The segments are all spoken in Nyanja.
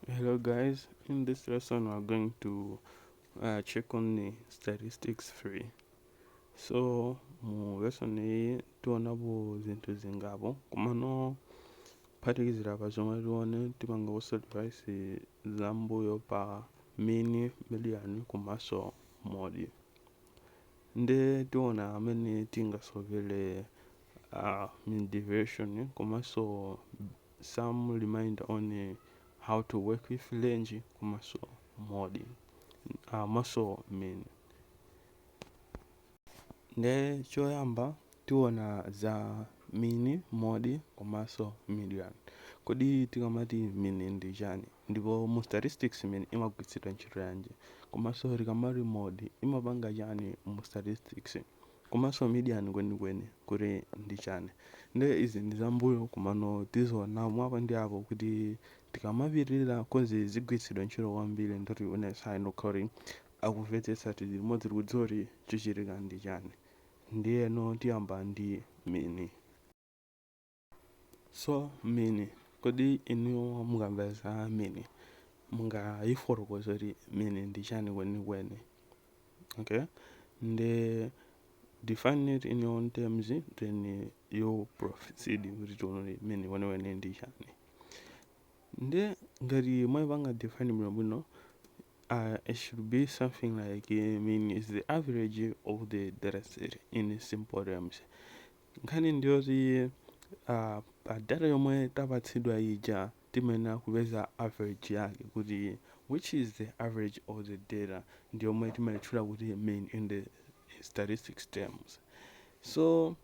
hello guys in this lesson we're going to uh, check on the statistics three so mu lesson iyi tionapo zinthu zingapo komano kuphatikizira pa zomwe tione tipanga summarise zambuyo pa mean median komanso mode nde tiona mmene tingasovele uh, mean deviation komanso some reminder on uh, how to work with range komanso mode uh, komanso mean nde choyamba tiona za mean mode komanso median kodi tikamati mean ndi chani ndipo mu statistics mean imagwiritsidwa ntchito yanji komanso tikamati mode imapanga chani mu statistics Komanso median kwenikweni kuti ndi chani. Nde izi ndi zambuyo komano tiziona mwa apa ndi apo kuti tikamapitirira coz zigwiritsidwe ntchito kwambiri nde tionetsetsa kuti akumvetsetsa tili limodzi tikudziwa kuti chichitika ndi chani. Ndiyeno tiyamba ndi mean. So mean kodi inuyo mukamva za mean mungayifotokoze kuti mean ndi chani kwenikweni okay nde define it in your own terms then you proceed kuti tione kuti mean kwenikweni ndi chani nde ngati mwayipanga define bwinobwino uh, it should be something like uh, mean is the average of the data set in simple terms Nkhani ndiyoti pa data yomwe tapatsidwa ija timayenera kupeza average yake kuti which is the average of the data ndiyomwe timaitchula kuti mean in the statistics terms so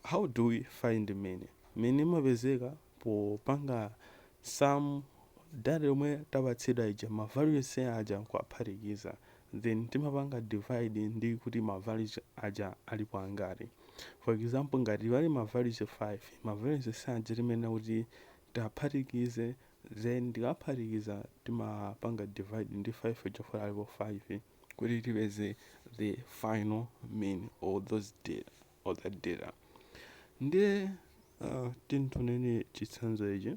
how do we find mean mean imapezeka popanga sum data yomwe tapatsidwa ija ma value onse aja nkuwaphatikiza then timapanga divide ndi kuti ma values aja alipo angati for example ngati pali ma values 5 ma values aja timayenera kuti tiwaphatikize then tikaphatikiza timapanga divide ndi 5 chifukwa alipo 5 kuti tipeze the final mean of those data or that data ndiye uh, titengeni chitsanzo ichi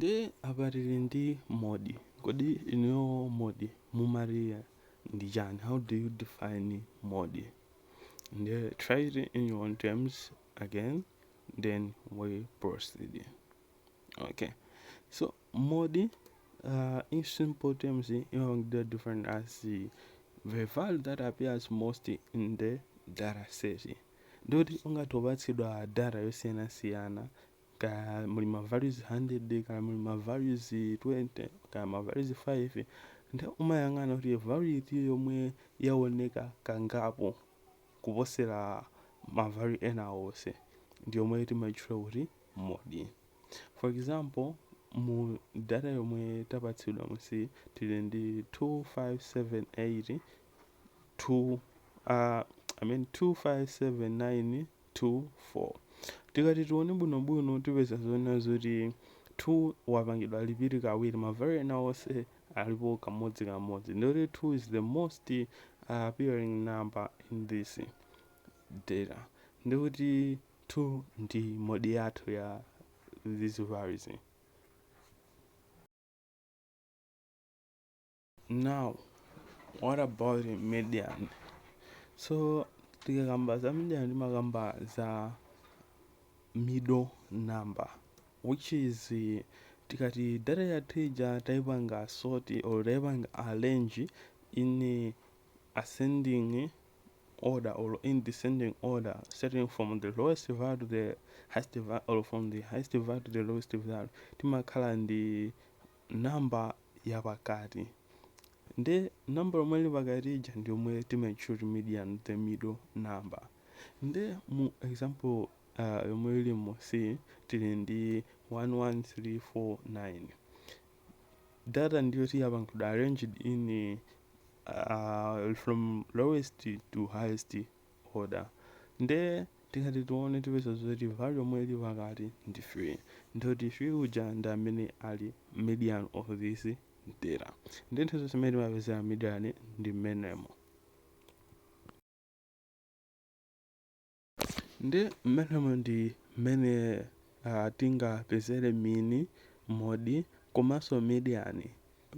Nde apa tili ndi mode, kodi inuyo mode mumati ndi chani? How do you define mode? Nde try it in your own terms again then we proceed. Okay, so mode uh, in simple terms imapangidwa define as the value that appears most in the data set. Ndikuti ungathe kupatsidwa data yosiyanasiyana kaya muli ma values 100 kaya muli ma values 20 kaya ma values 5 nde umayang'ana kuti value iti yomwe yaoneka kangapo kuposera ma value ena onse ndi yomwe timaitchula kuti mode for example mu data yomwe tapatsidwa musi tili ndi 2578 2 uh, I mean 2579 2 4 Tikati tione bwinobwino tipeza zoona zoti 2 wapangidwa repeat kawiri ma value ena onse alipo kamodzi kamodzi ndikuti 2 is the most uh, appearing number in this data ndikuti 2 ndi mode yathu ya these values now what about median so tikakamba za median timakamba za middle number which is eh, tikati data yathu ija taipanga sort or taipanga arrange in eh, ascending order or in descending order starting from the lowest value to the highest value or from the highest value to the lowest value timakhala ndi number yapakati nde number yomwe ili pakati ija ndi yomwe timaitchula median the middle number nde mu example uh, yomwe ili musi tili ndi 11349 data ndiyo tiyapangidwa arranged in uh, from lowest to highest order nde tikati tione tipeza zoti value yomwe ili pakati ndi 3 ndikuti 3 uja ndi amene ali median of this data nde nthawi zonse mmene timapezera median ndi mmenemo nde mmenemo ndi mmene uh, tingapezere mean mode komanso median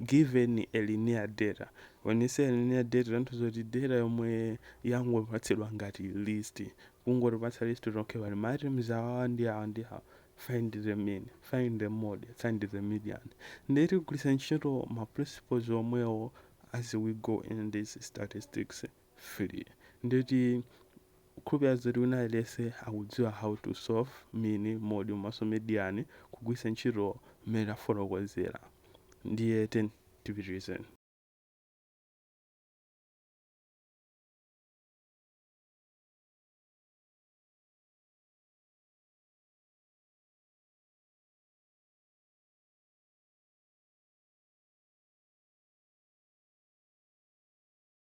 given a linear data when you say linear data tanthauza kuti data yomwe yangopatsidwa ngati list kungotipatsa list okay pali ma items awa ndi awa ndi awa find the mean find the mode find the median ndiye tigwiritsa ntchito ma principles omwewo as we go in this statistics field nde tikukhulupirira zoti wina aliyense akudziwa how to solve mean, mode komanso median kugwiritsa ntchito mmene tafotokozera ndiye tiyeni tipitirize.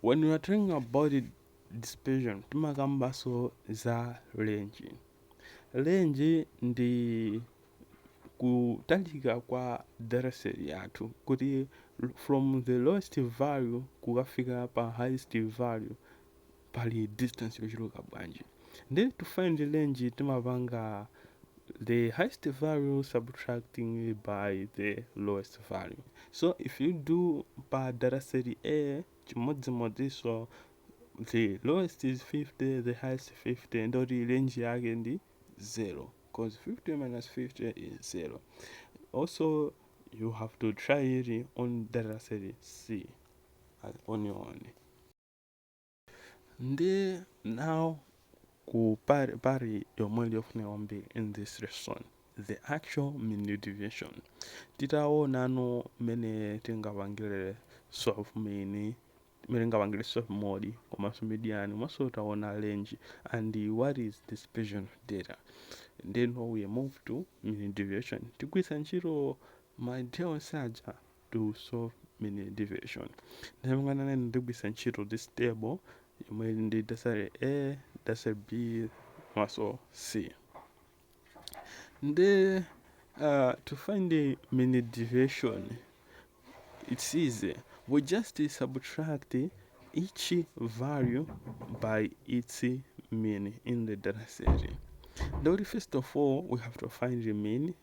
When we are talking about dispersion, timakambaso za range. Range ndi kutalika kwa data set yathu kuti from the lowest value kukafika pa highest value pali distance yochuluka bwanji nde to find range timapanga the highest value subtracting by the lowest value so if you do pa data set a chimodzimodziso the lowest is 50 the highest 50 ndoti range yake ndi 0 because 50 minus 50 is 0 also you have to try it on data set c as on your own ndi now ku part, part yomwe ili yofunika kwambiri in this lesson the actual mean deviation titaona no mmene tingapangire solve mean mmene tingapangire solve mode komanso median komanso taona range and what is dispersion of data then we move to mean deviation tigwiritsa ntchito ma idea onse aja to solve mini division ndiye monga nanene ndigwisa ntchito this table yomwe ili ndi dasale a dasale b maso c ndi uh, to find the mini deviation it's easy we just subtract each value by its mean in the data set Though first of all we have to find the mean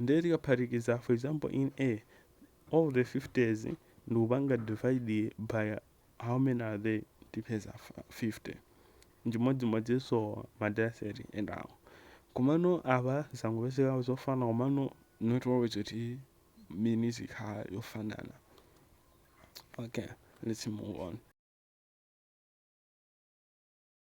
ndiye tikaphatikiza for example in a all the 50s nkupanga divide by how many are they tipeza 50 nchimodzimodzinso ma data set enawo komano apa zangopezeka zofana komano not always kuti mean izikhala yofanana okay let's move on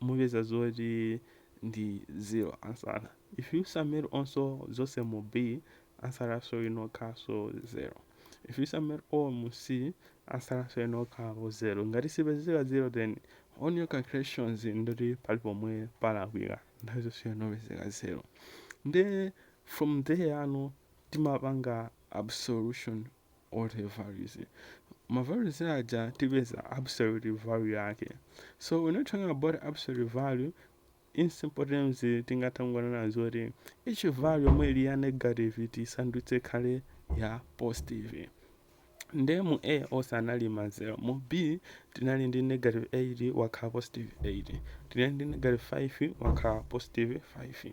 mupeza zoti ndi zero answer if you sum it onse zonse mu B answer yakenso inokhalanso zero if you sum it all mu C answer yakenso inokhalapo zero ngati sikupezeka zero then on your calculations nde kuti pali pomwe palakwika nthawi zonse inopezeka zero nde from there ano timapanga absolution of the values ma values aja tipeza absolute value yake so when talking about absolute value in simple terms tingatha kungonena zoti each value yomwe ili ya negative tisandutse ikhale ya positive nde mu a onse anali ma 0 mu b tinali ndi negative 8 wakhala positive 8 tinali ndi negative 5 wakhala positive 5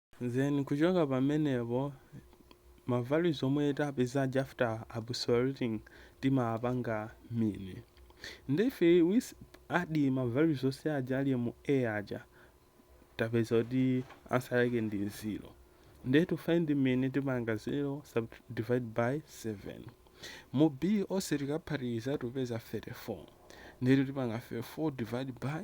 Then kuchoka pamenepo ma values omwe tapeza aja after absoluting timapanga mean nde if we add ma values onse aja ali mu a aja tapeza kuti answer yake ndi 0 ndiye to find mean tipanga 0 sub divide by 7 mu b onse tikaphatikiza tipeza 34 ndiye tipanga 34 divide by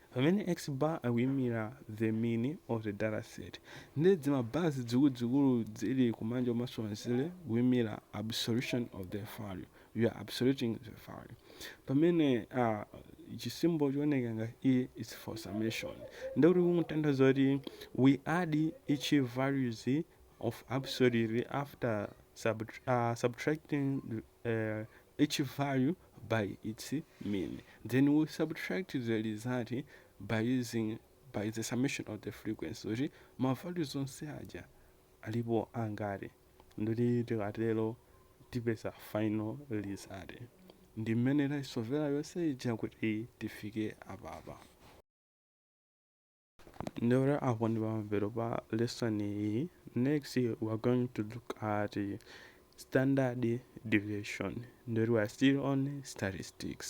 Pamene X bar akuimira the mean of the data set ndiye dzima bars dzikuluzikulu dzili kumanja komanso kumanzere zikuimira absolution of the value, you are absoluting the value. Pamene a chi symbol chooneka ngati E is for summation ndiye kuti kutanthauza kuti we add each values of absolute after sub, uh, subtracting uh, each value by its mean, then we subtract the result by using by the summation of the frequency kuti ma values onse aja alipo angati nde kuti tikatero tipeza final result ndi mmene taisovera yonse ija kuti tifike apapa Ndore apo ndi pamapeto pa lesson iyi. Next we are going to look at standard deviation. Ndore we are still on statistics.